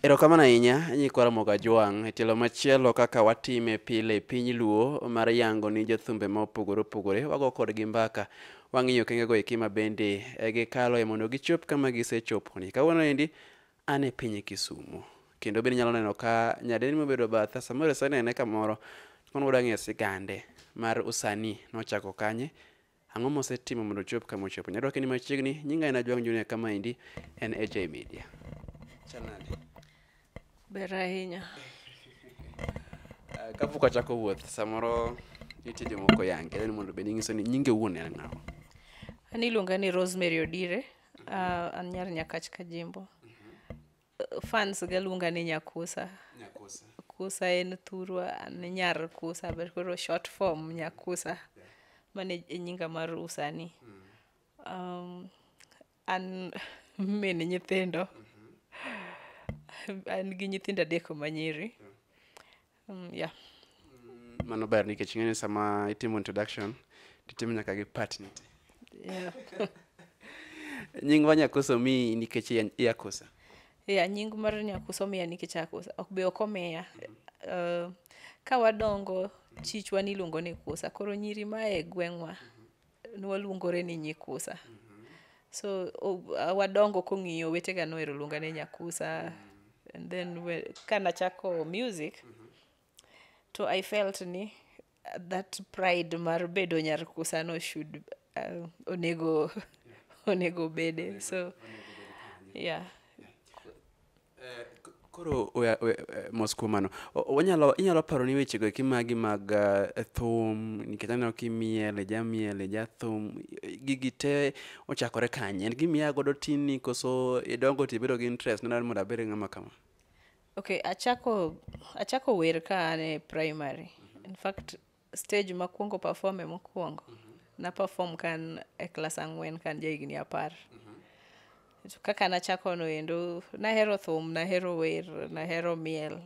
Erokamano ahinya nyikwa Ramogi Ajwang'. E tielo machielo kaka watime pile e piny Luo mar yango ni jothumbe ma opogore opogore wago kodgi mbaka. Wang'iyo okengego eki ma bende e, gikaloe mondo gichop kama gisechoponi. Kawuono endi an e piny Kisumu kendo bende inyalo neno ka nyadendi mobedo batha samoro isenene kamoro kono wang'e sigande mar usanii nochako kanye Ang'o mosetimo mondo ochop kama ochopo? Nyadwak ni machiegni, nyinga en Ajwang' Junior kama endi en AJ Media. Chal nade? Ber ahinya. Ah, Kapok achako wuoth, samoro nitie jomoko yange, dwani mondo bed ing'iso ni nyinge wuon en ng'awa. An iluonga ni Rosemary Odire, ah, an nyar Nyakach Kajimbo. fans ga luonga ni nyakusa nyakusa kusa en thurwa an nyar kusa but koro short form nyakusa mane e nyinga mar usani um, an min nyithindo an gi nyithindo adek manyiri Mm, yeah. mano ber nikech ing'e ni sama itimo introduction titimo nyaka gi partner Yeah. nying wa nyakoso mi nikech iya- iyakosa yeah, nying mar nyakuso miya nikech akusa ok be ok omiya uh, ka wadongo chichwa niluongo ni kusa koro nyiri mae gweng'wa nwaluongore ni nyikusa so o- uh, wadongo kong'iyo wetega nohero luonga ni nyakusa and then we- ka nachako music to i felt ni uh, that pride mar bedo nyarkusa no should uh, onego onego bede so yeah Eh, koro mos kuom mano wanyalo inyalo paro ni wechego eki magi mag eh, thum nikech aneno kimiel ijamiel ijathum gigi te ochakore kanye en gimiya godo tinni koso idongo to ibedo gi interest nena mondo abed ng'ama kama ok achako achako wer ka an e primary in fact stage makwongo perform e mokwongo mm -hmm. na perform kan e klas ang'wen kan ja higni apar mm -hmm. kaka nachako no endo nahero thum nahero wer nahero miel mm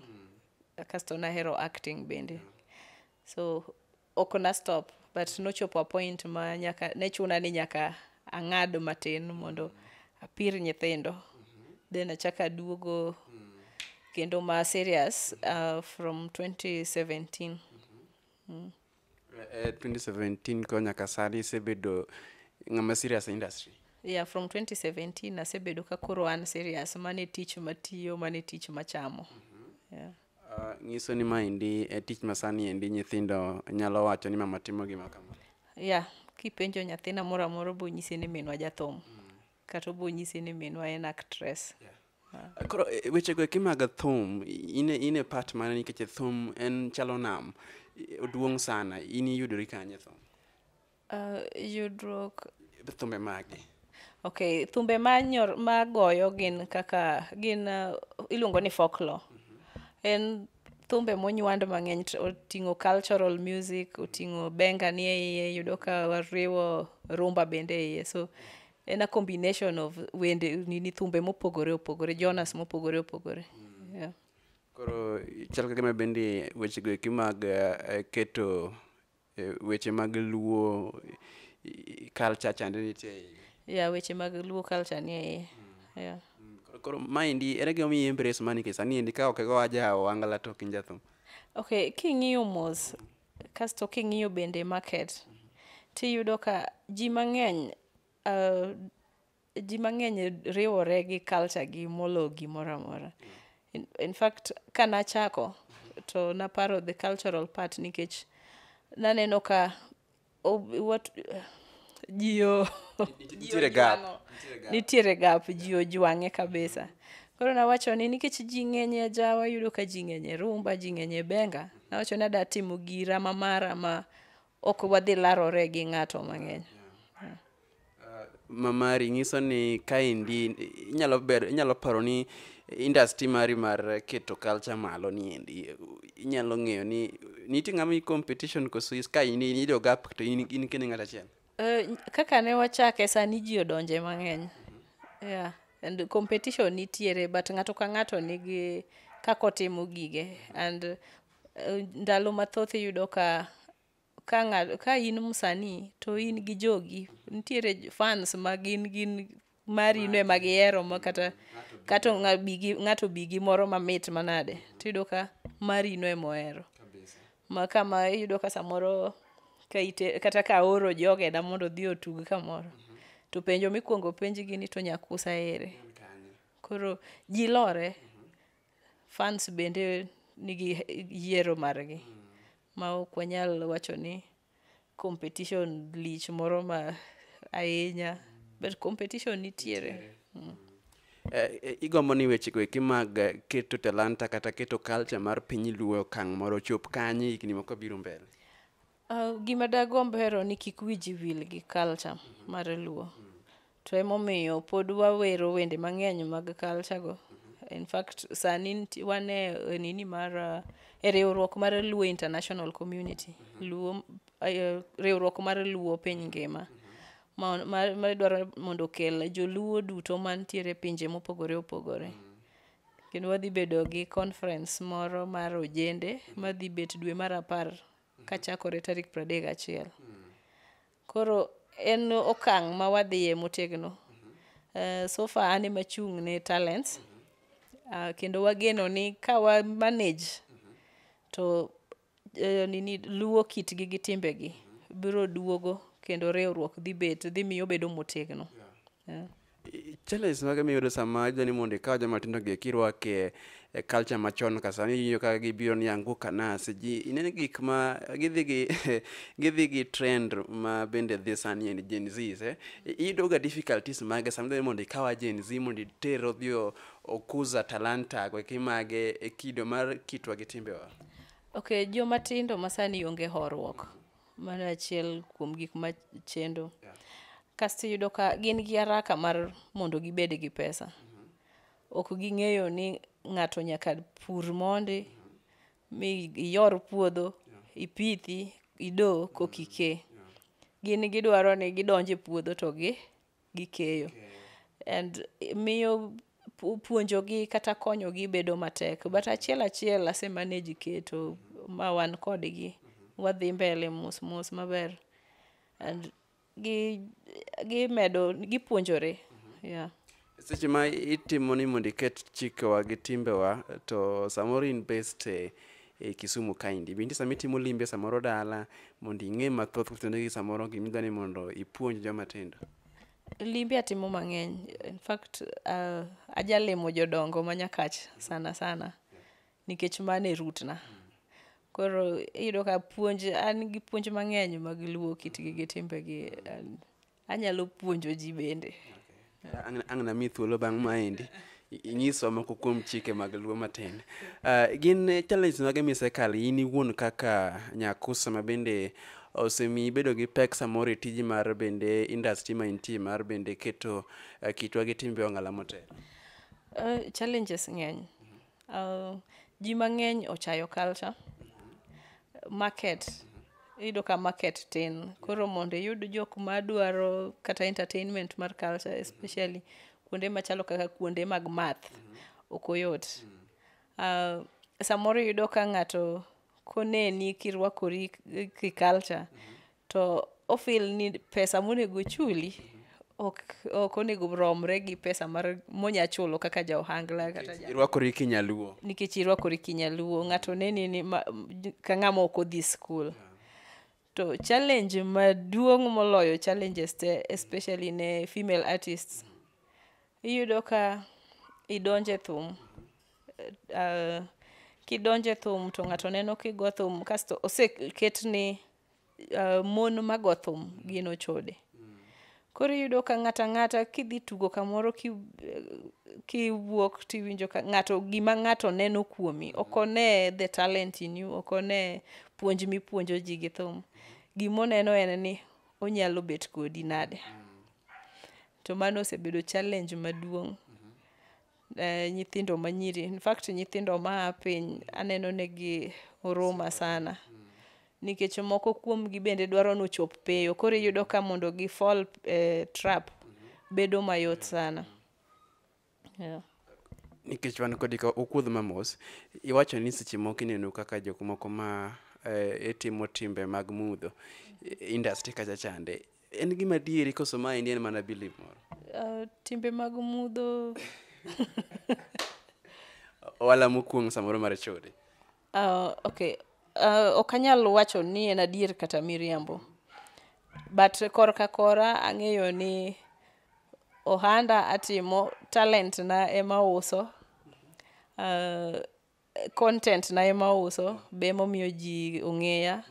-hmm. kasto nahero acting bende mm -hmm. so ok na stop but nochopo a point ma nyaka ne chuna ni nyaka mm -hmm. ang'ad matin mondo apir nyithindo then achaka aduogo kendo ma serious uh, from 2017 Eh, 2017 ko nyaka sani isebedo ng'ama serious e industry yeah from 2017 asebedo ka koro an serious mane tich matiyo mane tich machamo yeah. Uh, nyiso ni maendi e tich masani endi nyithindo nyalo wacho ni mama timo gima kama ya yeah, kipenjo nyathina moro amoro bonyise ni minwa jathum mm. kata obonyise ni minwa en actress yeah. Eh, koro eh, wechego eki mag thum ine ine part mana nikech thum en chalo nam oduong' sana in iyudori kanye thum Uh, yudruok thumbe magi okay thumbe manyor magoyo gin kaka gin uh, iluongo ni folklore mm -hmm. en thumbe monywand mang'eny oting'o cultural music oting'o benga ni eiye yudo ka wariwo rumba bende eiye so en a combination of wende nini thumbe mopogore opogore jonas mopogore opogore mm. yeah. koro chal kagima bende wechego eki mag uh, keto Eh, weche mag luo culture chande nitie e iye ya weche mag luo culture nie iye mm. yeah. Mm, koro maendi ere gimomiyo embrace mani ke sani endi ka okego aja owangala to kinjathum okay king'iyo mos kasto king'iyo bende market tiyudo ka ji mang'eny uh, ji mang'eny riwore gi culture gi molo gimoro amora in, in fact ka nachako to naparo the cultural part nikech naneno ka oh, what, ji o- ji Nitiere gap. ojwang'o. nitiere gap ji ojwang'e kabisa koro nawacho ni nikech ji ng'eny e jawa yudo ka ji ng'eny e rumba ji ng'eny e benga nawacho ni ada timo gira ma mara ma ok wadhi larore gi ng'ato mang'eny Uh, mamari nyiso ni kaendi inyalo ber inyalo paro ni industry mari mar keto culture malo ni endi inyalo ng'eyo ni nitie ng'ama competition koso ka in in ido gap to in in kende ng'at achiel eh, kaka ne wachake sani ji odonje mang'eny yeah and competition nitiere but ng'ato ka ng'ato nigi kaka otimo gige and uh, ndalo mathoth iyudo ka ka ng'ato ka in msanii to in gi jogi nitiere j- fans ma gin gin mari no ema gihero ma kata kata ng'a- bi gi- ng'ato bi gi moro mamit manade tiyudo ka mari no ema ohero ma kama iyudo ka samoro ka ite, kata ka aoro jogeda mondo odhi otug kamoro to penjo mikwongo penjgi ni to nyakusa ere koro ji lore fans bende nigi yiero margi ma ok wanyal wacho ni competition lich moro ma ahinya but competition nitiere mm. Eh, eh, igombo ni wechego eki mag eh, keto talanta kata keto culture mar piny luo okang' moro chop kanye higni moko biro mbele Uh, gima dagomb hero ni kik wiji wil gi culture mar luo to emomiyo pod wawero wende mang'eny mag culture go in fact sani nti- wan e e nini mar uh, e riwruok mar luo international community luo eh, riwruok mar luo piny ngima ma- ma- madwaro mondo okel joluo duto mantiere e pinje mopogore opogore kendo wadhi bedo gi conference moro mar ojende madhi bet dwe mar apar kachakore tarik 31. Koro en okang' ma wadhiye motegno. Eh, so far an ema achung' ne talents Ah, kendo wageno ni ka wa manage to eh, nini luwo kitgi gi timbegi biro duogo kendo riwruok dhi bet dhi miyo bedo motegno. Yeah. challenge mage miyudo sama idwa ni mondo ikaw joma tindo gi kirwake e culture machon ka sani iwinjo ka gibiro ni angu kanas ji ineno gik ma gidhi gi gidhi gi trend ma bende dhi sani en Gen Zs eh? iyudo ga difficulties mage sama idwa ni mondo ikawa Gen Z mondo iter odhi o- okuza talanta go kimage e kido mar kitwa gi timbewa Okay, joma tindo masani onge horuok. Mano achiel kuom gik ma chendo. Yeah. Kasto iyudo ka gin gi haraka mar mondo gibed gi pesa. Mm -hmm. Ok ging'eyo ni ng'ato nyaka pur mondi, mm -hmm. mi iyor puodho, yeah. ipithi, ido, kokike. Yeah. Yeah. Gin gidwaro ni gidonje puodho to gi gi keyo and miyo pu- puonjogi kata konyogi bedo matek but achiel achiel ase manage keto ma wan kodgi wadhi mbele mos mos maber and gi gimedo gipuonjore yeah. seche ma itimo ni mondo iket chikewa gi timbewa to samoro in best eh, e Kisumu kaendi. Bende sama itimo limbe samoro dala mondo ing'e mathoth kutendono gi samoro gima idwa ni mondo ipuonj joma tindo? Limbe atimo mang'eny. In fact, uh, ajalimo jodongo ma Nyakach sana sana nikech mano e root na. Koro iyudo ka puonj an gi puonj mang'eny mag luo kitgi gi timbegi and Anyalo puonjo ji bende. Ang' ang' nami thuolo bang' maendi. I- Inyiswa moko kuom chike mag luo matin. Ah, gin eh, challenges mage misekalo in iwuon kaka nyakusa ma bende osemi ibedo gi pek samoro e tiji mar bende industry ma intie mar bende keto eh, kitwa gi timbe ong'ala motelo. Eh, challenges ng'eny. Uh, ji mang'eny ochayo culture market iyudo ka market tin koro mondo iyud jok madwaro kata entertainment mar culture especially kuonde machalo kaka kuonde mag math ok oyot uh, samoro iyudo ka ng'ato koneni kirwakori ki culture to ofil ni pesa monego chuli ok ok onego romre gi pesa mar monya chulo kaka ja ohangla kata ja irwakori kinyaluo nikech irwakori kinyaluo ng'ato neni ni ma, m- ka ng'ama ok odhi skul to challenge maduong' moloyo challenges te especially ne female artists iyudo ka idonje thum uh, kidonje thum to ng'ato neno kigo thum kasto oseket ni uh, mon mago thum gin ochode koro iyudo ka ng'ata ng'ata kidhi tugo kamoro ki, kiwuok tiwinjo ka ng'ato gima ng'ato neno kuomi ok one the talent in you ok one puonj mipuonjo ji gi thum gimoneno en ni onyalo bet kodi nade to mano osebedo challenge maduong' eh, nyithindo manyiri in fact nyithindo maa piny aneno negi huruma sana nikech moko kuomgi bende dwaro ni ochop peyo koro iyudo ka mondo gi fall eh, trap bedo mayot sana yeah. nikech wan kodi ka okuodh mamos iwacho ni seche moko ineno kaka jok moko ma eh, itimo timbe mag mudho i- industry kacha chande En gima dieri koso ma en mana believe moro. Uh, timbe mag mudho. Wala mokuong samoro mar chode. Uh, ah, okay. Uh, ah, okanyal wacho ni en adier kata miriambo. But korka kora ang'eyo ni ohanda atimo talent na ema uso uh, content na ema ouso be emomiyo ji ong'eya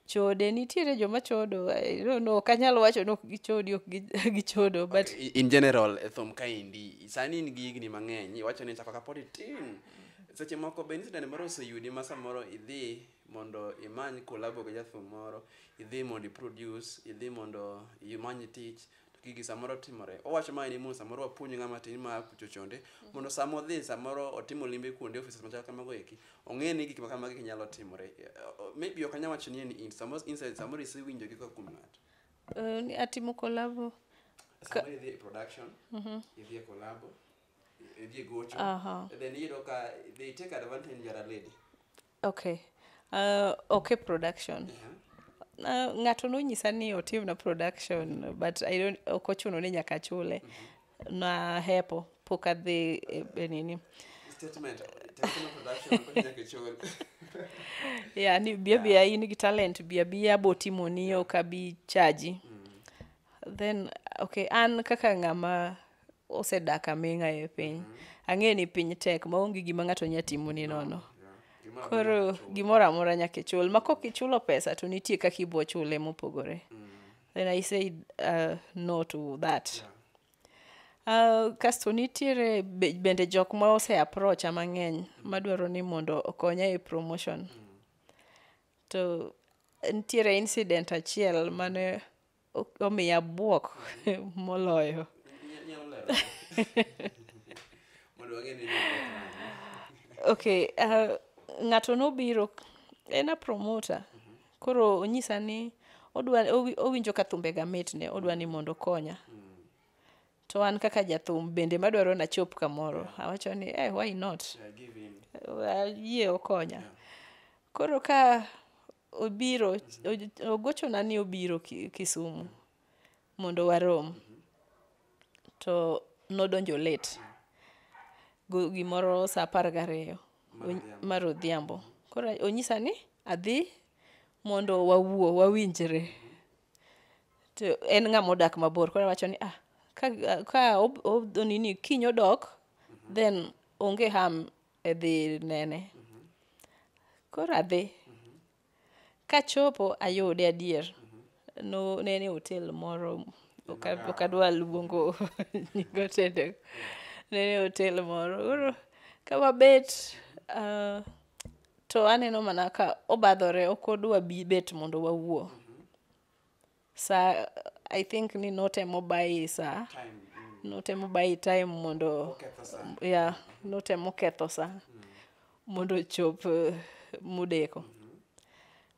chode nitiere joma chodo I don't know, ok anyal wacho ni ok gichodi ok gi- gichodo but I- in general e thum kaendi sani in gi higni mang'eny iwacho ni chako kapod itin seche moko be incident moro oseyudi ma samoro idhi mondo imany kolabo gi jathum moro idhi mondo iproduce idhi mondo imany tich to gigi samoro timore owacho mae ni mondo samoro wapuonj ng'ama tin ma kucho chonde mondo sama odhi samoro otimo limbe kuonde offices machal kamago eki ong'e ni gik ma kamagi nyalo timore Eh, oh, maybe ok anyal wacho ni en in samoro inside samoro isewinjo gi kuom ng'ato Eh, ni atimo kolabo samoro idhi e production idhi e collabo idhi e gocho Aha. and then iyudo ka they take advantage you are a lady Okay. Uh, okay production. Uh, ng'ato nonyisa ni otimna production but I don't ok ochuno ni nyaka chule. Na hepo pok adhi e, e nini. Statement, technical production, kodi nyaka ichul. Yeah, ni bia bia in gi talent bia bia botimo ni ok abi chaji. Then okay an kaka ng'ama osedak aming'a e piny mm -hmm. ang'eyo ni piny tek ma onge gima ng'ato nya timo ni nono no. yeah. koro gimoro amora nyaka ichul ma kok ichulo pesa to nitie kaka ibo chule mopogore mm. then i say uh, no to that yeah. Uh, kasto nitiere bende jok ma ose aprocha mang'eny mm. madwaro ni mondo okonya e promotion mm. to nitiere incident achiel mane omiya bwok moloyo ok uh, ng'ato nobiro en a promoter koro onyisa ni odwa owinjo ka thumbega mitne odwa ni mondo okonya to an kaka jathum bende madwaro nachop kamoro awacho ni eh, why not ayie okonya koro ka obiro o- ogochona ni obiro Ki- kisumu mondo warom to nodonjo late Go- gimoro sa apar gariyo Ony- mar odhiambo koro onyisa ni adhi mondo wawuo wawinjre to en ng'ama odak mabor koro awacho ni ah ka, ka ob- ob- onini kiny odok then onge ham e dhi nene. Koro adhi. Kachopo ayude adier. No, ne en e hotel moro, ok a- ok adwa luongo nying otende. Ne en e hotel moro. Koro ka wabet, ah, to aneno mana ka obadhore, ok odwa bi bet mondo wawuo. sa i think ni notemo bayi sa notemo bayi time mondo ya notemo ketho sa mondo ochop eh, mudeko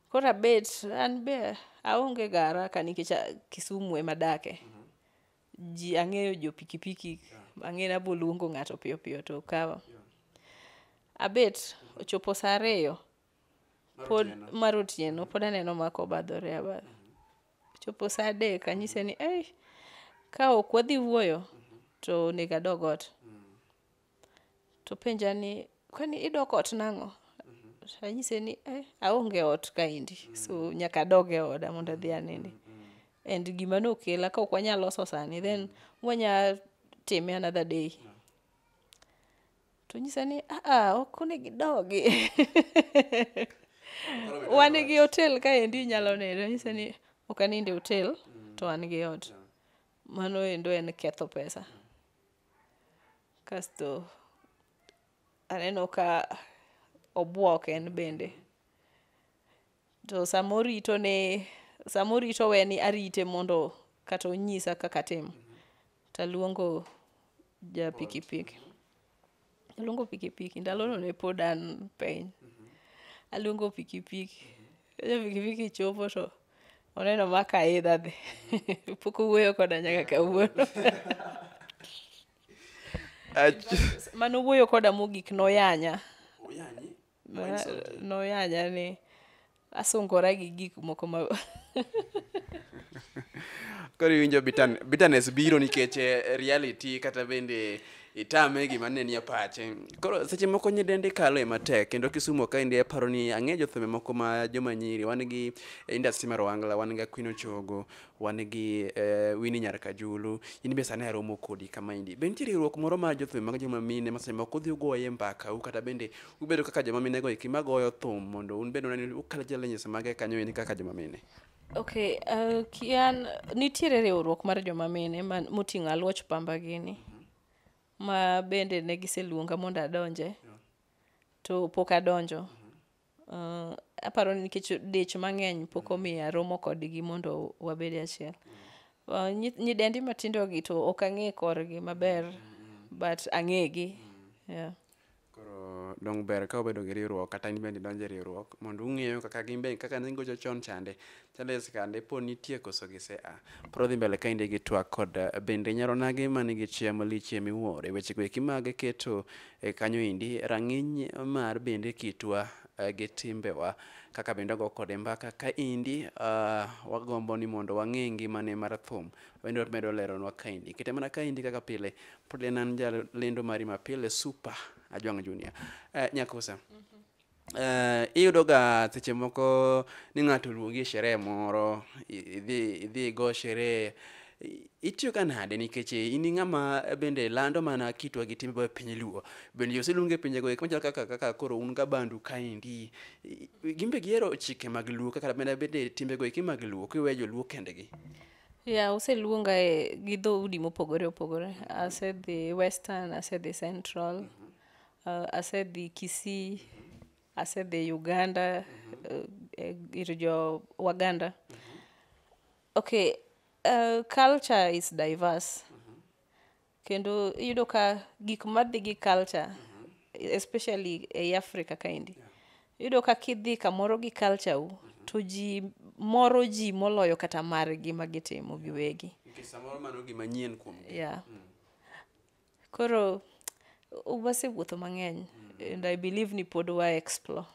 koro abet an be aonge ga haraka nikech a- kisumu ema adake ji ang'eyo jo pikipiki ang'eyo nabo luongo ng'ato piyo piyo to kawa abet ochopo sa ariyo pod mar otieno pod aneno ma kobadhore abadha chopo saa adek anyise ni ei ka ok wadhi wuoyo to onego adog ot to penja ni kwani idok ot nang'o anyise ni eh, aonge ot kaendi so nyaka adog e oda mondo adhi anindi and gima nokela ka ok wanyal loso sani then wanya time another day to nyisa ni aa ok onego idogi wan gi hotel kaendi inyalo nindo nyisa ni ok anind e hotel to an gi ot mano endo en ketho pesa kasto aneno ka obwok en bende To sama orito ne sama orito we ni arite mondo kata onyisa kaka atim. To aluongo ja pikipiki. Aluongo pikipiki. Ndalono ne pod an piny. Aluongo pikipiki. Ja pikipiki chopo to oneno ma kaidha dhi. Pok owuoyo koda nyaka kawuono. Ach- Mane owuoyo koda mogik noyanya. Many something. noyanya ni asungora gi gik moko ma koro iwinjo bittern- bitterness biro nikech eh, reality kata bende itame gima ne nie pache koro seche moko nyidendi kalo e matek kendo kisumo ka indi aparo ni ang'e jothumbe moko ma joma nyiri wan gi eh, industry mar wangla wan ga kwino chogo wan gi eh, Winnie Nyar Kajulu, in be sani aromo kodi kama endi. Be nitie riwruok moro mar jothum mag joma mine ma seche moko udhi ugoye mbaka u kata bende ubedo kaka joma mine go eki magoyo thum mondo un bende unani ukal challenges mage kanyo endi kaka joma mine. Okay, uh, kian nitiere riwruok mar joma mine man- moting'o aluoch pamba gini ma bende ne giseluonga mondo adonje to pok adonjo Uh, aparo ni nikech dich mang'eny pok mm. omiya romo kodgi mondo wabed achiel mm. uh, nyidendi matindogi to ok ang'e korgi maber mm, but ang'egi yeah. koro dong ber ka obedo gi riwruok kata in bende idonjo e riwruok mondo ung'eyo kaka gin bende kaka ne gigocho chon chande Therese kande po nitie koso gise a. Pro dhi mbele kainde gi twak kod eh, bende nyaro nage mani gi chia malichie miwuore weche go eki mage keto e kanyo indi rang'iny mar bende kitwa eh, gi timbewa kaka bende wago kode mbaka ka indi ah, wagombo ni mondo wang'e ngimane mar thum bende wamedo leronwa kaindi kete mana kaindi kaka pile pod en an jalendo mari mapile super ajwang' junior Eh, nyakusa eh, iyudoga seche moko ni ng'ato oluongi e sherehe moro i- idhi idhi igo sherehe I- itiyoga nade nikech in i ng'ama bende lando mana kitwa gi timbewa e piny luo bende jo oseluongi e pinjego eko machalo kaka kaka koro un ga bandu kaendi I- i- gin be gihero chike mag luo kaka bende bende timbego eki mag luo kiweyo joluo kendegi ya useluonga e gi dhoudi mopogore opogore asedhi western asedhi central Uh, asedhi Kisii, asedhi Uganda uh, ir jo Waganda. Okay, uh, culture is diverse. Kendo iyudo ka gik madhi gi culture especially ei Africa kaendi. Iyudo ka kidhi kamoro gi culture u to ji moro ji moloyo kata margi ma gitimo giwegi. Nikech samoro mano gima nyien kuom Yeah. Koro wasewuotho mang'eny and I believe ni pod wa explore.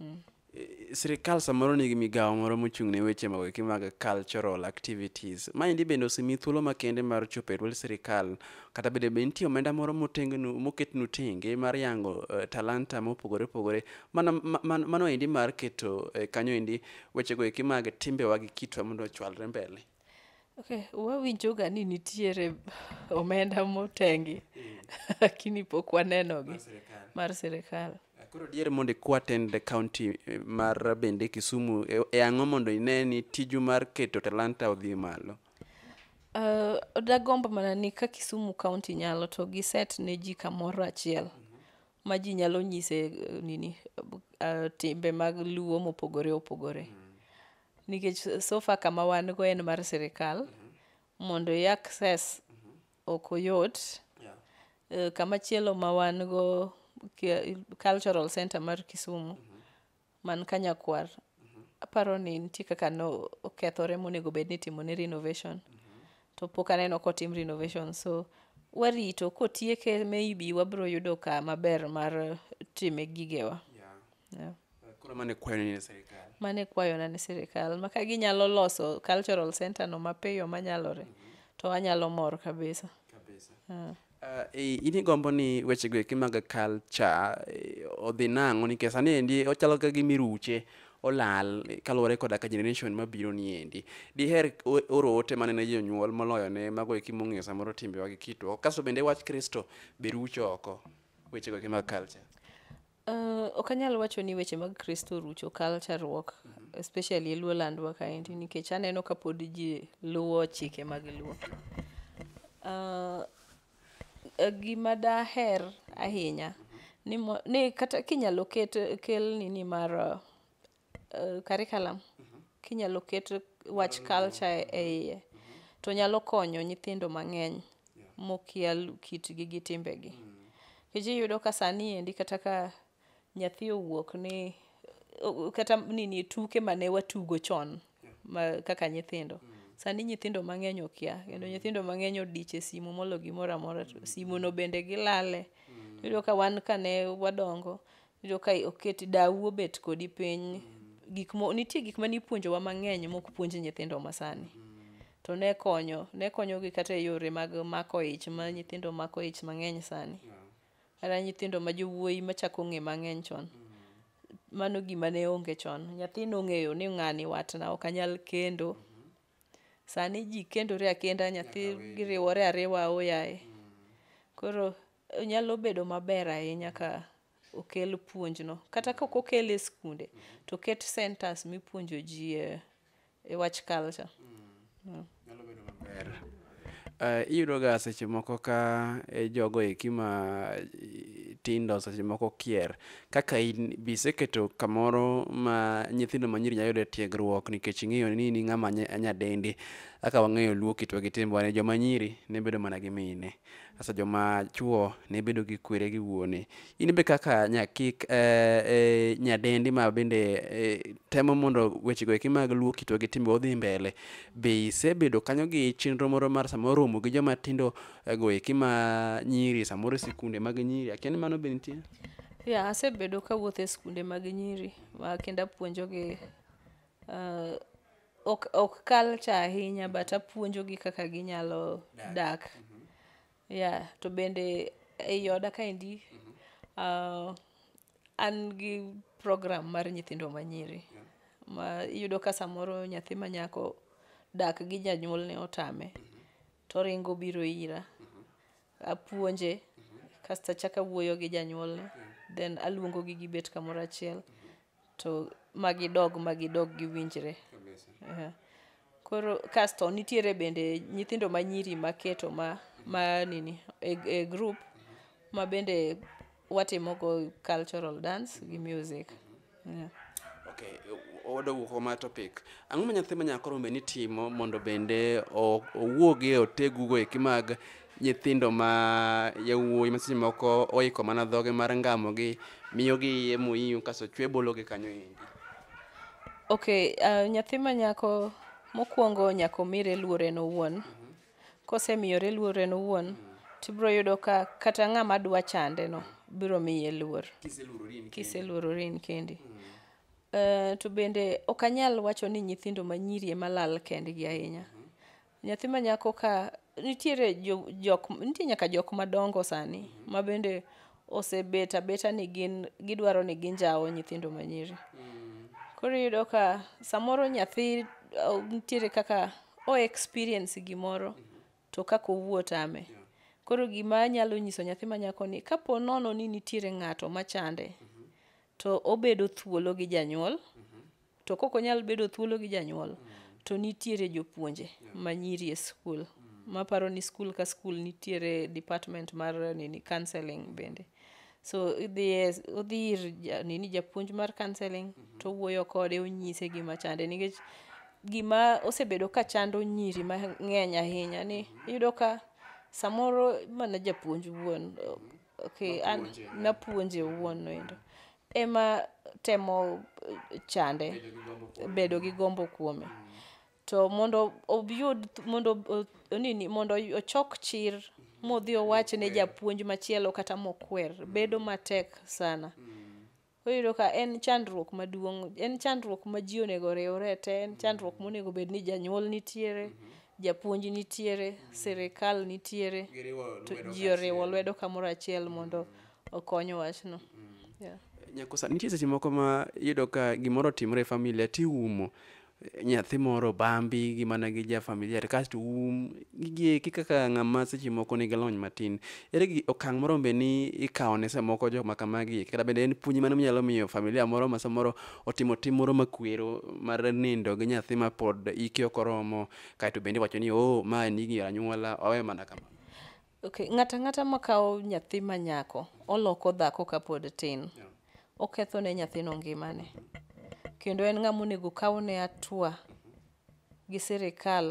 Eh, Sirkal samoro nigi migawo moro mochung' ne weche mag eki mag cultural activities. Maendi bende osemi thuolo makende mar chopo e dwol sirkal. Kata bende be nitie omenda moro motengnu moketnu tenge mar yango eh, talanta mopogore opogore. Mano ma- ma- mano endi mar keto eh, kanyo endi wechego eki mag timbewa gi kitwa mondo ochwalre mbele. Okay, wawinjoga ni nitiere omenda motengi lakini pok wanenogi Mar sirikal. mar sirikal. Koro diere mondo ikwa tend the county eh, mar bende Kisumu e- e ang'o mondo ine ni tiju mar keto talanta odhi malo. Uh, dagombo mana ni ka Kisumu County nyalo to giset ne ji kamoro achiel ma ji nyalo nyise eh, nini uh, timbe mag luo mopogore opogore mm -hmm. nikech sofa kama wan go en mar sirikal mm -hmm. mondo i access mm -hmm. ok oyot yeah. uh, kama chielo ma wan go cultural center mar kisumu mm -hmm. man ka nyakwar aparo ni nitie kaka no okethore monego bed ni timone renovation to pok aneno kotim renovation so warito kotieke maybe wabiro yudo ka maber mar time gigewa yeah. koro mane kwayo ni ne sirikal mane kwayona ne sirikal maka ginyalo loso cultural center no mapiyo manyalore to anyalo mor kabisa kabisa Uh, in igombo ni wechego eki mag culture eh, odhi nang'o nikech sani endi ochalo ka gima iruche olal eh, kaluwore koda ka generation mabiro ni endi diher o- oro ote mane ne jonyuol moloyo ne mago eki mong'eyo samoro timbewa gi kitwa kasto bende wach kristo be rucho oko wechego eki mag culture Uh, ok anyal wacho ni weche mag kristo orucho kalcharuok especially e luo landwa kaendi nikech aneno ka pod ji luwo chike mag luo uh, eh, gima daher ahinya ni, mo, ni kata kinyalo ket kel nini mar uh, uh, curriculum kinyalo ket wach culture e iye to nyalo konyo nyithindo mang'eny mokia lu- kitgi gi timbegi kech iyudo ka sani endi kata ka nyathi owuok ni o- kata nini tuke mane watugo chon ma, kaka nyithindo sani nyithindo mang'eny okia kendo nyithindo mang'eny odich e simu molo gimoro amora to simuno bende gilale iyudo ka wan kane wadongo Iyudo ka oket dawu obet kodi piny gik mo, nitie gik mane ipuonjowa mang'eny mok puonj nyithindo masani to ne konyo ne konyogi kata e yore mag mako ich ma nyithindo mako ich mang'eny sani kata nyithindo ma jowuoyi machako ng'e mang'eny chon mano gima ne onge chon nyathi nong'eyo ni ng'ani watna ok anyal kendo sani ji kendore akenda nyathi giriwore ariwa oyaye koro nyalo bedo maber ahinya ka okel puonjno kata ka ok okel e skunde to ket centers mipuonjo ji e, e wach culture mm. nyalo bedo maber Uh, iyudoga seche moko ka e jogo eki ma tindo seche moko kier kaka in biseketo kamoro ma nyithindo manyiri nyalo yudo e tiegruok nikech ing'eyo ni in ng'ama nyadendi kaka wang'eyo luo kitwa gi timbewa ni joma nyiri ne bedo mana gi mine Sasa joma chuo ne bedo gi kwere gi wuone. In be kaka nyakik eh, eh, nyadendi ma bende eh, temo mondo wechego eki mag luo kitwa gi timbe odhi mbele, be isebedo kanyo gi chenro moro mar samoro romo gi joma tindo eh, go eki ma nyiri samoro e sikunde mag nyiri akia ni mano be nitie? Ya, asebedo kawuotho e skunde mag nyiri ma kendo apuonjogi Uh, ok, ok culture ahinya but apuonjogi kaka ginyalo dak, dak. Mm -hmm. yeah to bende ei oda kaendi mm -hmm. uh, an gi program mar nyithindo manyiri yeah. ma iyudo ka samoro nyathi manyako dak gi janyuol ne otame mm -hmm. to ringo biro ira mm -hmm. apuonje mm -hmm. kasto achaka wuoyo gi janyuolne yeah. then aluongogi gibet kamoro achiel mm -hmm to magidog magidog giwinjre yeah. koro kasto nitiere bende nyithindo manyiri maketo ma, ma nini e, e group ma bende watimogo cultural dance gi music yeah. okay odo wuok ma topic ang'o ma nyathi ma nyako rombe ni timo mondo bende owuogi e otegugo eki mag nyithindo ma yawuoyi ma seche moko oiko mana dhoge mar ngamogi miyogi iye moyiyo kaso chwe bologi kanyo endi ok uh, nyathi ma nyako mokwongo nyaka omire luor en owuon kosemiyore luor en owuon tibiro yudo ka kata ng'ama dwa chande no biro miye luor kiseluorori in kendi uh, to bende ok anyal wacho ni nyithindo manyiri ema lal kendgi ahinya mm -hmm Nyathi ma nyako ka nitiere jo, jok nitie nyaka jok madongo sani ma bende osebet abeta ni gin gidwaro ni ginjawo nyithindo manyiri. Koro iyudo ka samoro nyathi uh, nitiere kaka o experience gimoro to kaka owuo tame. Koro gima anyalo nyiso nyathi ma nyako ni kapo nono ni nitiere ng'ato machande to obedo thuolo gi janyuol to kok onyal bedo thuolo gi janyuol to nitiere jopuonje manyiri e skul maparo ni skul ka skul nitiere department mar nini counseling bende so idhiye odhi ir ja- nini japuonj mar counseling to owuoyo kode onyise gima chande nikech gima osebedo ka chando nyiri mang'eny ahinya ni iyudo ka samoro mana japuonj wuon okay, an, napuonje wuon noendo ema temo chande, bedo gi gombo kuome. To mondo oyud, mondo nini, mondo ochok chir modhi owach ne japuonj machielo kata mokwer, bedo matek sana. Koro iyudo ka en chandruok maduong', en chandruok ma ji onego oriwre te, en chandruok monego bed ni janyuol nitiere, japuonj nitiere, sirikal nitiere. To ji oriwo lwedo kamoro achiel mondo okonyo wachno yeah. nyakosa nitie seche moko ma yudo ka gimoro otimre e familia tiumo nyathi moro bambi gi mana gi ja familia to kasto um gigieki kaka ng'ama seche moko nigi lony matin ere gi okang' moro be ni ikawo ne samoko jok ma kamagi kata bende en puonj mane minyalo miyo familia moro ma samoro otimo tim moro makwero mar nindo gi nyathi ma pod ike ok oromo kaeto bende iwacho ni o ma en igi anyuola owe mana kama Okay, ng'ata ng'ata ma kawo nyathi ma nyako oloko dhako ka pod tin. Oketho ne nyathino ngimane. Kendo en ng'ama onego kaw ne atua gi sirikal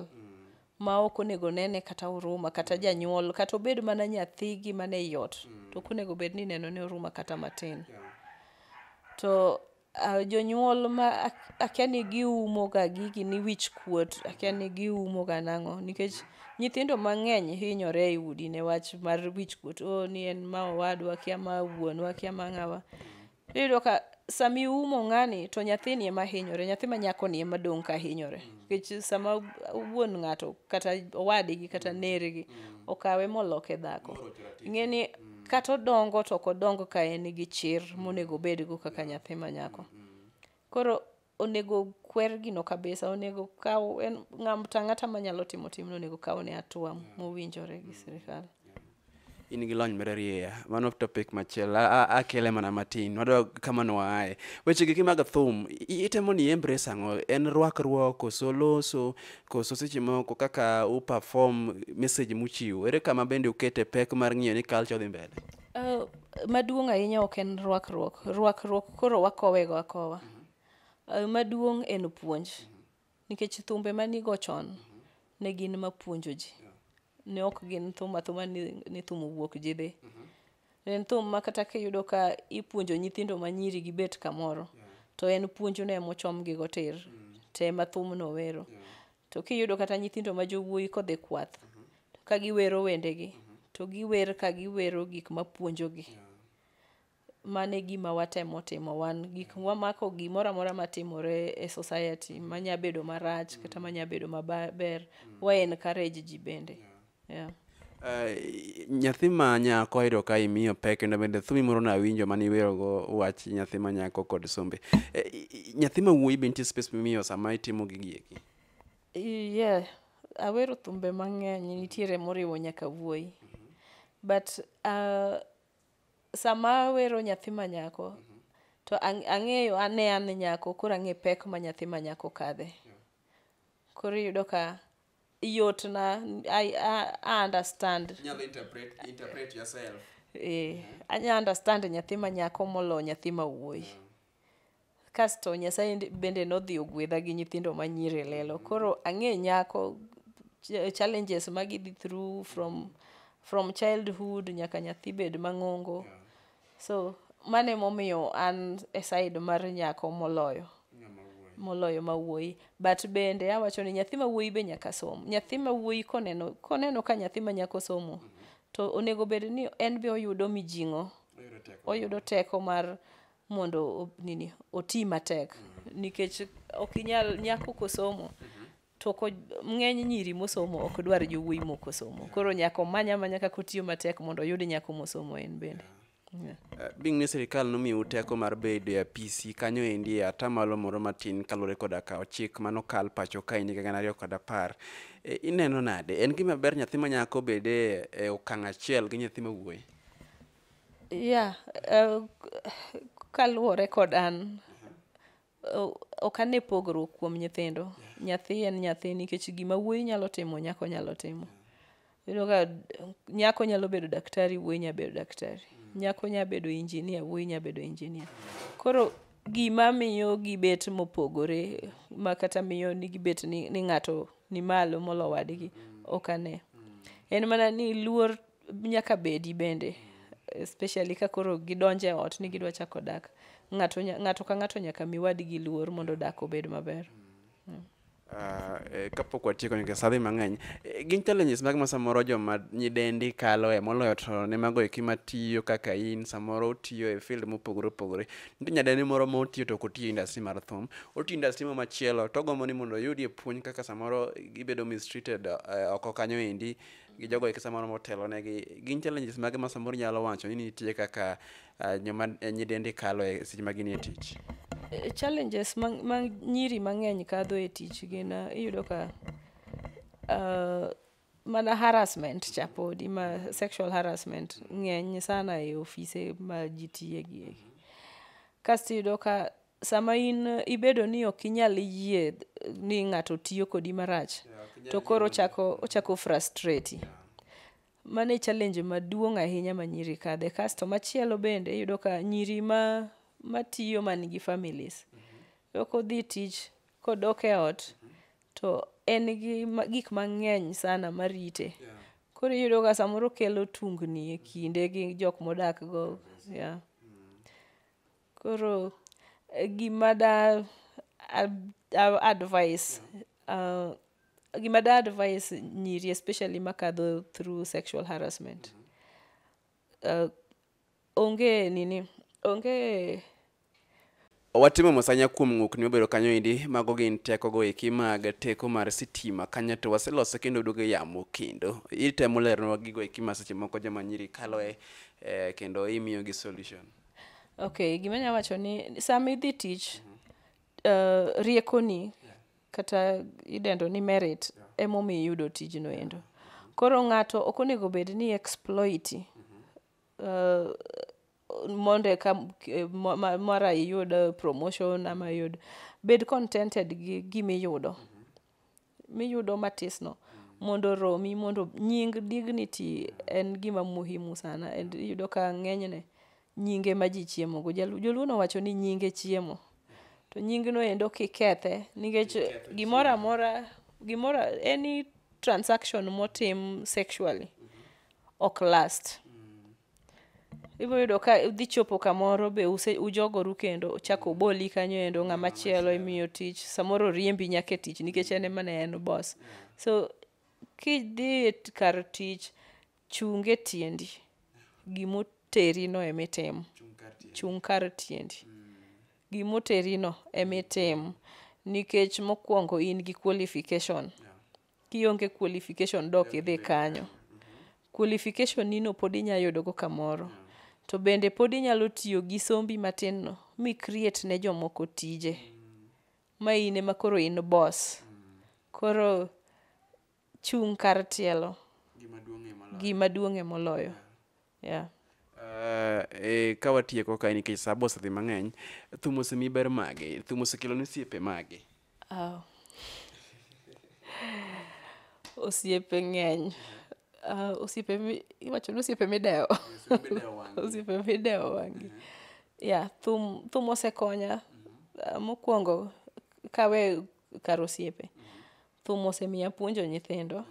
ma ok onego nene kata huruma kata janyuol kata obed mana nyathi gi mane iot to ok onego bed ni ineno ne huruma kata matin. To Uh, jonyuol ma akia ni giumo ga gigi ni wich kuot akia ni giumo ga nang'o nikech nyithindo mang'eny hinyore e udi ne wach mar wich kuot o oh, ni en ma owadwa akia ma wuonwa akia ma ng'awa iyudo ka sama iumo ng'ani to nyathini ema hinyore nyathi ma nyakoni ema dong' ka hinyore nikech sama wuon ng'ato kata owadgi kata nergi okawe moloke dhako ing'e ni kata odongo to ok odongo ka en gi chir monego obedgo kaka nyathi ma nyako koro onego kwer gino kabisa onego kaw en ng'ata ng'ata manyalo timo timno onego kaw ne atua mowinjore gi sirikal in gi lony mararieya mano topic machielo A- a- akele mana matin wadwa kama noaye weche giki mag thum i- itemo ni embrace ang'o en rwakruok koso loso koso seche moko kaka u perform message muchiwo ere kama bende ukete pek mar ng'iyo ni culture dhi mbele uh, maduong' ahinya ok en rwakruok rwakruok koro wakowego akowa uh, maduong' en puonj nikech thumbe manigo chon ne gin mapuonjo ji ne ok gin thum athuma ni, ni thum owuok ji dhi mm-hmm. ne en thum ma kata kiyudo ka ipuonjo nyithindo ma nyiri gibet kamoro yeah. to en puonjno ema ochomgi gotir mm. to ema thumno wero yeah. to kiyudo kata nyithindo ma jowuoyi kodhi kwath mm-hmm. to ka giwero wendegi mm-hmm. to giwer ka giwero gik ma puonjogi yeah. Mano e gima watemo timo wan. Gik wamako gimoro amora matimore e society manya bedo marach kata manya bedo maber, wa encourage ji bende. Yeah. Eh, nyathi ma nyako ayudo ka imiyo pek kendo bende thumi moro nawinjo mane iwerogo wach nyathi ma nyako kod sombe eh, nyathi ma wuoyi be nitie space mimiyo sama itimo gigi eki yeah awero thumbe mang'eny nitiere moriwo nyaka wuoyi but uh, sama awero nyathi ma nyako to ang- ang'eyo ane an nyako koro ang'e pek ma nyathi ma nyako kadhe koro iyudo ka yotna I, I, I understand Inyalo interpret, interpret yourself. eh, anya understand nyathi ma nyako molo nyathi ma wuoyi Kasto Nyasaye ndi- bende nodhi ogwedha gi nyithindo ma nyiri lelo. Koro ang'e nyako ch- challenges ma gidhi through from from childhood nyaka nyathi bed mang'ongo. So mano emomiyo an e side mar nyako moloyo moloyo ma wuoyi but bende awacho ni nyathi ma wuoyi be nyaka som nyathi ma wuoyi koneno koneno ka nyathi ma nyako somo to onego bed ni en be oyudo mijing'o oyudo teko mar mondo o- nini oti matek nikech ok inyal nyako kosomo to ko ng'eny nyiri mosomo ok dwar jowuoyi mokosomo koro nyako manya manya kaka otiyo matek mondo oyud nyako mosomo en bende Yeah. Eh, Bing ni sirikal nomiu teko mar bedo e apisi kanyo endi e atamalo moro matin kaluwore koda ka chik mano kal pacho ka endi gana ariyo kod apar. Eh, Ineno nade? En gima ber nyathi manyako bede e okang' achiel gi nyathi mawuoyi? Yeah, uh, kaluwore kod an o- ok ane pogruok kuom nyithindo nyathi en nyathi nikech gima wuoyi nyalo timo nyako nyalo timo yudo ka d- nyako nyalo bedo daktari wuoyi nyalo bedo daktari nyako nyalo bedo injinia wuoyi nyalo bedo injinia koro gima miyo gibet mopogore ma kata miyo ni gibet ni, ni ng'ato ni malo molo wadgi ok ane en mana ni luor nyaka bedi bende especially ka koro gidonje ot ni gidwa chako dak ng'ato, ng'ato ka ng'ato nyaka mi wadgi luor mondo dak obed maber mm. Uh, eh, kapok watieko nikech sadhi mang'eny eh, gin challenges mag ma samoro joma nyidendi kalo e moloyo to ne mago eki matiyo kaka in samoro otiyo e field mopogore opogore nitie nyadendi moro ma otiyo to ok otiyo industry mar thum otiyo industry mo machielo to ogombo ni mondo oyudie puonj kaka samoro gibedo mistreated uh, oko kanyo endi gi jogo eki samoro motelo negi gin challenges mage ma samoro nyalo wacho ni nitie kaka uh, nyoma eh, nyidendi kalo e seche ma ginie tich eh, challenges ma, ma nyiri mang'eny kadho e tich gin uh, iyudo ka uh, mana harassment cha podi ma sexual harassment ng'eny sana e ofise ma ji tiye gi eki kasto iyudo ka sama in ibedo ni ok inyal yie ni ng'ato tiyo kodi marach to koro ochako ochako frustrate mane challenge maduong' ahinya ma nyiri kadhe kasto machielo bende iyudo ka nyiri ma matiyo man gi families ok odhi tich kodok e ot to en gi ma- gik mang'eny sana marite koro iyudo ka samoro kelo tungni e kinde gi jok modak go yeah. Koro gima da advice uh, gima da advice nyiri especially makadho through sexual harassment uh, onge nini onge watimo mosanya kuom ng'ukni mobedo kanyo endi mago gin tekogo eki mag teko mar sitima kanyo to waseloso kendo duogo yamo kendo itemo leronwa gigo eki ma seche moko joma nyiri kaloe eh, kendo imiyogi solution Okay, gima nya wacho ni sama idhi tich uh, riekoni kata idendo ni merit emomiyo iyudo tijno endo. Koro ng'ato ok onego bed ni exploiti uh, mondo eka eh, ma- ma- mara iyud eh, promotion ama iyud bed contented gi gima iyudo miyudo matisno mondo romi mondo nying dignity en gima muhimu sana and iyudo ka ng'enyne nyinge ma ji chiemogo Jalu- joluo nowacho ni nyinge chiemo to nyingno endo kikethe nikech gimoro amora gimoro any transaction motim sexually ok last ibiro yudo ka udhi chopo kamoro be use ujogoru kendo chako oboli kanyo endo ng'ama chielo imiyo tich samoro riembi nyaka e tich nikech en emane en boss so kidhi e kar tich chunge tiendi gimoteri no emitimo chung' kar tiendi mm. gimoteri no emitimo nikech mokwongo in gi qualification yeah. kionge qualification dok idhi kanyo qualification nino pod inya yudogo kamoro to bende pod inyalo tiyo gi sombi matin no mi create ne jomoko tije ma in ema koro in boss koro chung' kar tielo gima duong'ie moloyo yeah. Uh, e, ka watieko kae nikech sa bo osedhi mang'eny thum osemi ber mage thum osekelo ni siepe mage oh. osiepe ng'eny uh, osiepe iwacho ni osiepe midewo osiepe midewo wangi ya thum thum osekonya uh, mokwongo kawe kar osiepe thum osemiya puonjo nyithindo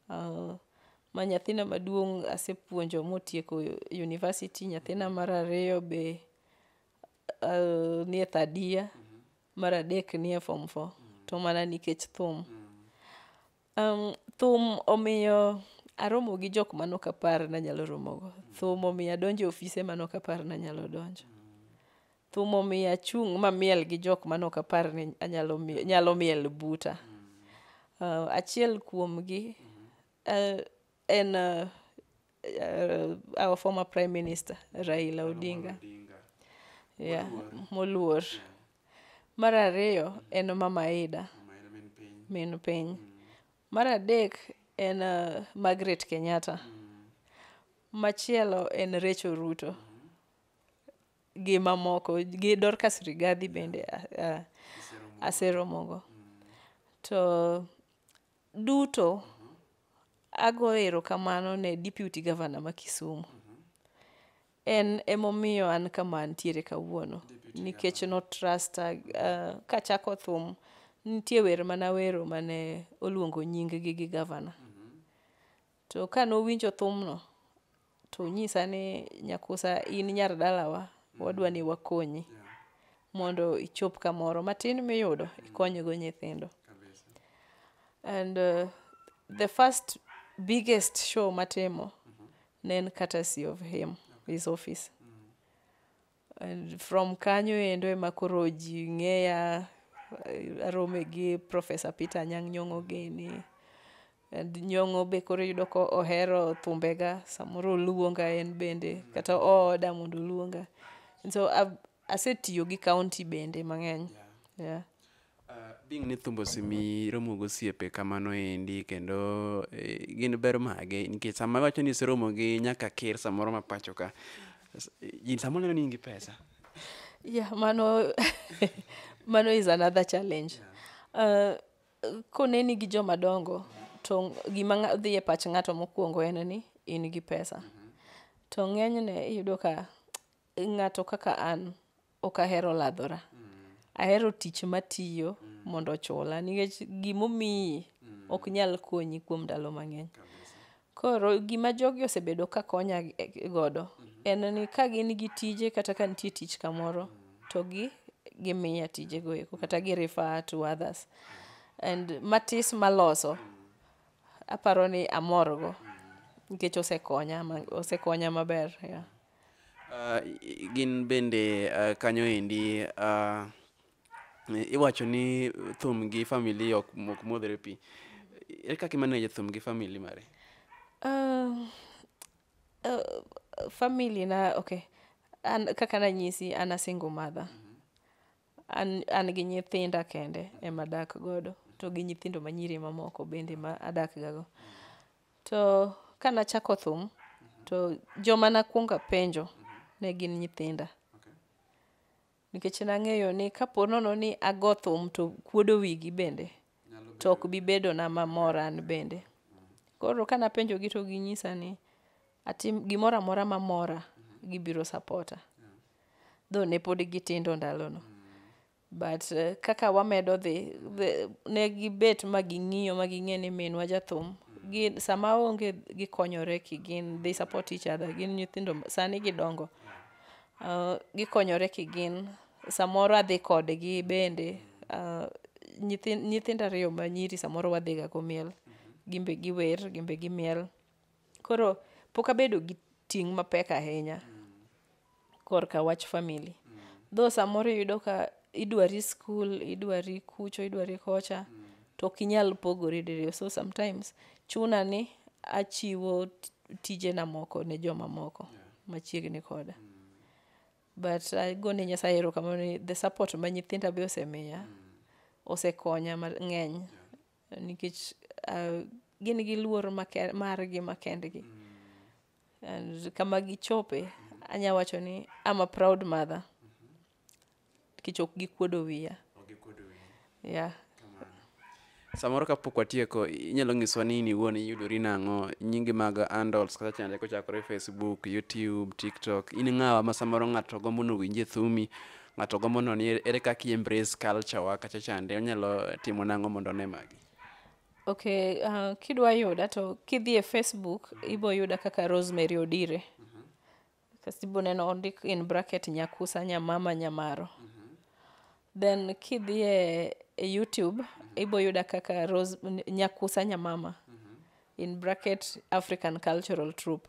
Uh, ma nyathina maduong' asepuonjo motieko university, nyathina mar ariyo be uh, nie third year, mar adek nie form four, to mana nikech thum. Um, thum omiyo aromo gi jok mano kapar nanyalo romogo. Thum omiyo adonjo e ofise mano kapar nanyalo donjo. thum omiyo achung' mamiel gi jok mane ok apar ni anyalo mi- nyalo miel buta uh, achiel kuomgi uh, en uh, uh, our former prime minister raila odinga yeah, moluor mar ariyo en mama ida min piny mar adek en uh, margaret kenyatta machielo en recho ruto gi mamoko gi Dorcas Rigathi bende uh, aseromogo to duto ago erokamano ne deputy governor ma Kisumu en emomiyo an kama antiere kawuono nikech notrusta uh, kachako thum nitie wer mana wero mane oluongo nyinggi gi governor To ka nowinjo thumno, to onyisa ni Nyakusa in nyar dalawa, wadwa ni wakonyi mondo ichop kamoro matin miyudo ikonygo nyithindo. Kabisa. And uh, the first biggest show matimo ne en courtesy of him, his office. And from kanyo endo ema koro ji ng'eya eh, arome gi Professor Peter Anyang' Nyong'o gini. And Nyong'o be koro iyudo ko ohero thumbega, samoro oluonga en bende kata ooda mondo oluonga. And so ab- asetiyo gi county bende mang'eny. Yeah. Being ni thumbo simi romo gosiepe kamano endi kendo eh, gin ber mage nikech sama iwacho ni iseromo gi nyaka ker samoro ma pacho ka s- ji samoro neno ni in gi pesa yeah mano mano is another challenge uh, koneni gi joma dongo to gima ng'a- dhi e pach ng'ato mokwongo en ni in gi pesa to ng'enyne iyudo ka ng'ato kaka an ok ahero ladhora ahero tich matiyo mondo ochula nikech gimomiyi ok nyal konyi kuom ndalo mang'eny koro gima jogi osebedo ka konya e- godo en ni ka gin gi tije kata ka nitie tich kamoro to gi gimiya tijego eko kata gi refer to others and matis maloso aparo ni amorgo nikech osekonya ma- osekonya maber yeah. gin bende uh, kanyo endi uh, iwacho ni thum gi famili ok mok modhre pi ere kaka imaneje thum gi famili mare uh, uh, famili na okay an, kaka nanyisi an a single mother an, an gi nyithinda kende ema adak godo to gi nyithindo manyiri mamoko bende ma adak gago To ka nachako thum, to joma nakwongo apenjo ne gin nyithinda. Nikech nang'eyo ni kapo nono ni ago thum to kuodo wigi bende, to ok bi bedona mamor an bende. Koro ka napenjogi to ginyisa ni atim gimoro amora ma mora, gibiro sapota. Though ne pod gitindo ndalono. but uh, kaka wamedo dhi ne gibet ma ging'iyo ma ging'e ni minwa jathum gin sama onge gikonyore ki gin they support each other gin nyithindo sani gidongo uh, gikonyore ki gin samoro adhi kodgi bende uh, nyithindo ariyo ma nyiri samoro wadhiga go miel gimbe giwer gimbe gimiel Koro pok abedo gi ting' mapek ahinya korka wach family. Though samoro iyudo ka idwari skul, idwari kucho, idwari kocha to ok inyal pogori diriyo. So sometimes chuna ni achiwo t- tijena moko ne jomamoko machiegni koda. But agone Nyasaye erokamano ni the support ma nyithinda be osemiya osekonya mang'eny nikech uh, gin gi luor make- margi makendgi and kama gichope anya wacho ni I'm a proud mother nikech ok gikuodo wiya yeah. samoro kapok watieko inyalo nyiswa ni in iwuon iyudori nang'o nyingi mag handles kata chande kochakore facebook youtube tiktok in ng'awa ma samoro ng'ato gombo nowinje thumi ng'ato gombo noni ere- ere kaka i embrace culture wa kacha chande onyalo timo nang'o mondo one magi okay uh, kidwa yuda to kidhi e facebook ibo yuda kaka rosemary odire kasi ibo neno ondik in bracket nyakusa nyamama nyamaro then kidhi e, e youtube ibo yuda kaka Rose, N- nyakusa nyamama in bracket african cultural troupe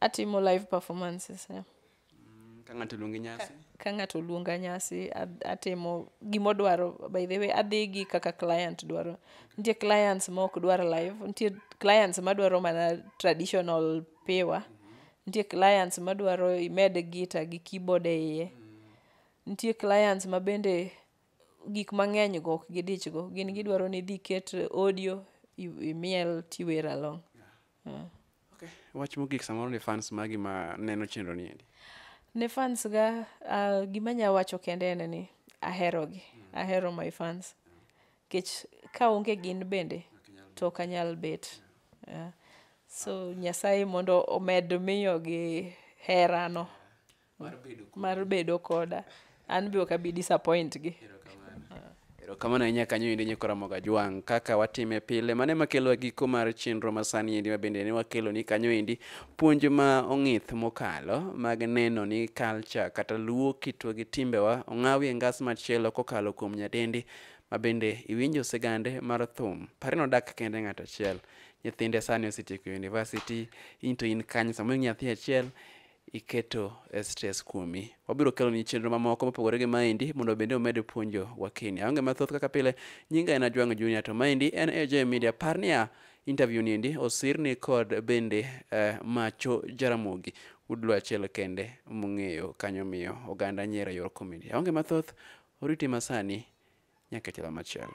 Atimo live performances. Yeah. Mm, ka ng'ato luongi nyasi. Ka ng'ato luonga nyasi atimo gimo dwaro by the way adhi gi kaka client dwaro. Nitie clients ma ok dwar live, nitie clients ma dwaro mana traditional piwa. Mm -hmm. Nitie clients ma dwaro imed gita gi keyboard e iye. Mm -hmm. Nitie clients ma bende gik mang'eny go ok gidichgo gin gidwaro ni idhi ket audio imiel tiwer along yeah. okay. wach mogik samoro ni fans magi ma neno chenro ni endi ne fans ga uh, gima nya wacho kende en ni ahero gi mm. ahero my fans kech ka onge gin bende to ok anyal bet yeah. Yeah. so nyasaye mondo omed miyogi herano mar bedo kodi. mar bedo koda an be ok abi disappoint gi erokamano ahinya kanyo endi nyako ramoga jwang' kaka watime pile mane makelowa giko mar chenro masani endi mabende ne wakelo ni kanyo endi puonj ma ong'ith mokalo mag neno ni culture kata luo kitwa gi timbewa ong'awi e ngas machielo kokalo kuom nyadendi mabende iwinjo sigande mar thum pare nodak kende ng'ato achiel nyithinde sani osetieko university into in kanyo samoro nyathi achiel iketo e stress kuomi. Wabiro kelo ni chenro mamoko mopogore gi maendi mondo bende omed puonjo wakini. Aonge mathoth kaka pile, nyinga en Ajwang' Junior to maendi en AJ Media. Par niya, interview ni endi osirni kod bende eh, Macho Jaramogi. Udlo achiel kende mung'eyo kanyo miyo oganda nyiero e yor comedy. Aonge mathoth, oriti masani nyaka chalo machielo.